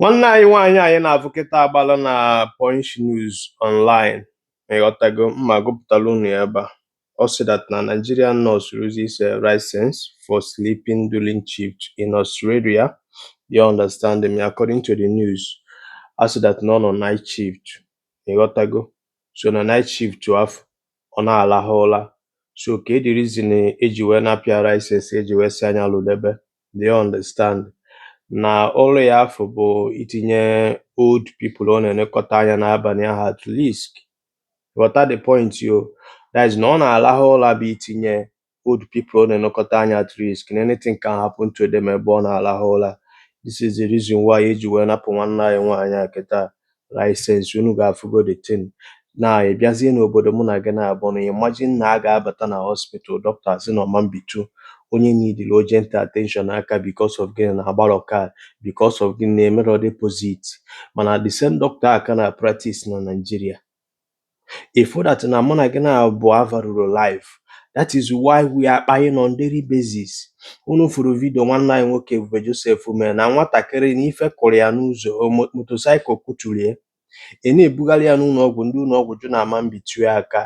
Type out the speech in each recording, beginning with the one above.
nwanne anyị nwaanyị anyị na-afụ kịta agbala na Punch News Online ịghọtago mma gụpụtara unu ya ebe a ọ sị that na Nigerian nurse loses license for sleeping during shift in Australia you understand me according to the news a sị that na ọ nọ night shift ịghọtago so na night shift afụ ọ na-alahụ ụla so ka the reason eji wee napụ ya license eji wee sị ya nya lụdebe do you understand na ụra ya afụ bụ itinye old people ọ na-elekọta anya n'abalị ahụ at risk ghọta the point yo that is na ọ na-arahụ ụra bụ itinye old people ọ na-elekọta anya at risk na anything can happen to them ebe ọ na-arahụ ụra this is the reason why eji wee napụ nwanne anyị nwaanyị a kịta license unu ga-afụgo the thing na ị bịazie n'obodo mụ na gị naabọ na imagine na a ga-abata na hospital dọkịta asị na ọ ma mbitu onye needịrị urgent attention aka because of gịnị na agbarọ card because of gịnị na emerọ deposit mana the same dọkịta a ka na practice na Nigeria ị fụ that na mụ na gị naabọ avaluerọ life that is why we are kpaing on daily basis unu furu vidio nwanne anyị nwoke Ebube Joseph mere na nwatakịrị na ife kụrụ ya n'ụzọ motosaịkụl kụturu ya a na-ebugharị ya n'ụlọ ọgwụ ndị ụlọ ọgwụ jụ na a ma mbitu ya aka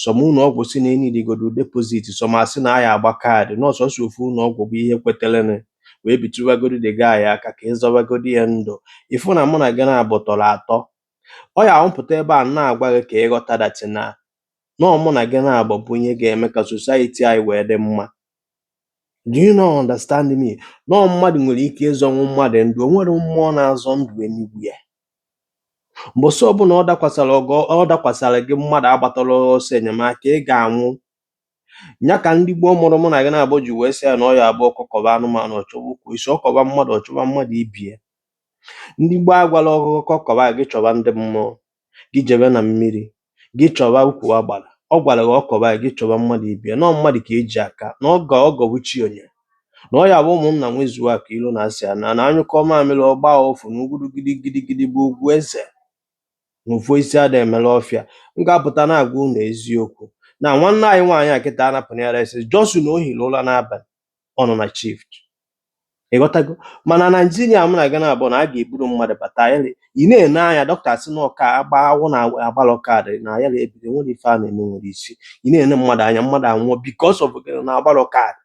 some ụlọ ọgwụ si na e needigodo deposit some asị na a ya-agba kaadị na ọ sọsọ ofu ụlọ ọgwụ bụ ihe kweterenụ wee bitụwagodi the guy aka ka a zọwagodi ya ndụ ị fụ na mụ na gị naabọ tọrọ atọ ọ ya m pụta ebe a na-agwa gị ka ị ghọta that na na ọ mụ na gị naabọ bụ ihe ga-eme ka society anyị wee dị mma do you now understand me na ọ mmadụ nwere ike ịzọnwu mmadụ ndụ o nwere mmụọ na-azọ ndụ enigwe mbọsị ọbụla ọ dakwasara gị ọ dakwasara gị mmadụ agbatarọ gị ọsọ enyemaka ị ga-anwụ nya ka ndị gboo mụrụ mụ na gị naabọ ji wee sị ya na ọ ya abụ ọkọ kọba anụmanụ ọ chọwa ukwu osisi ọ kọba mmadụ ọ chọba mmadụ ibe ya ndị gboo agwalọ gị ọkọ kọba gị chọba ndị mmụọ gị jebe na mmiri gị chọba ukwu agbara ọ gwara gị ọ kọba gị chọba mmadụ ibe ya na ọ mmadụ ka eji aka na ọ ga ọgọ bụ chi onye na ọ ya bụ ụmụnna nwezuo aka ilu na asị ya na na anyụkọ mamịrị ọ gba ụfụ na ugwuru gidigidi bụ ugwu eze na ofu osisi ada emela ọfịa m ga-apụta na-agwa unu eziokwu na nwanne anyị nwaanyị a kịta anapụna ya license just na o hiri ụra n'abalị ọ nọ na shift ịghọtago mana naijiria mụ na gị naabọ na a ga-eburu mmadụ bata ayarị ị na-ene anya dọkịta si na ọ ka agba awụ na agbalọ kaadị na ayarị ebido o nwerọ ife a na-eme nwere isi ị na-ene mmadụ anya mmadụ anwụọ because of gịnị na agbalọ kaadị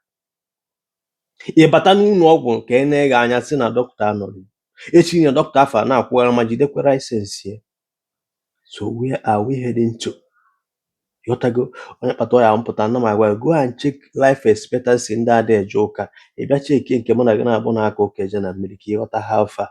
ị bata n'ụlọ ọgwụ ka e nee gị anya si na dọkịta anọrọ echi nine dọkịta afụ na-akwụgharị ma jidekwara license ya so where are we heading to ghọtago ọ nya kpata ya m pụta na m agwa go and check life expectancy ndị ada eje ụka ị bịa cheki nke mụ na gị naabọ na-aka ụka eje na mmiri ka ịghọta how far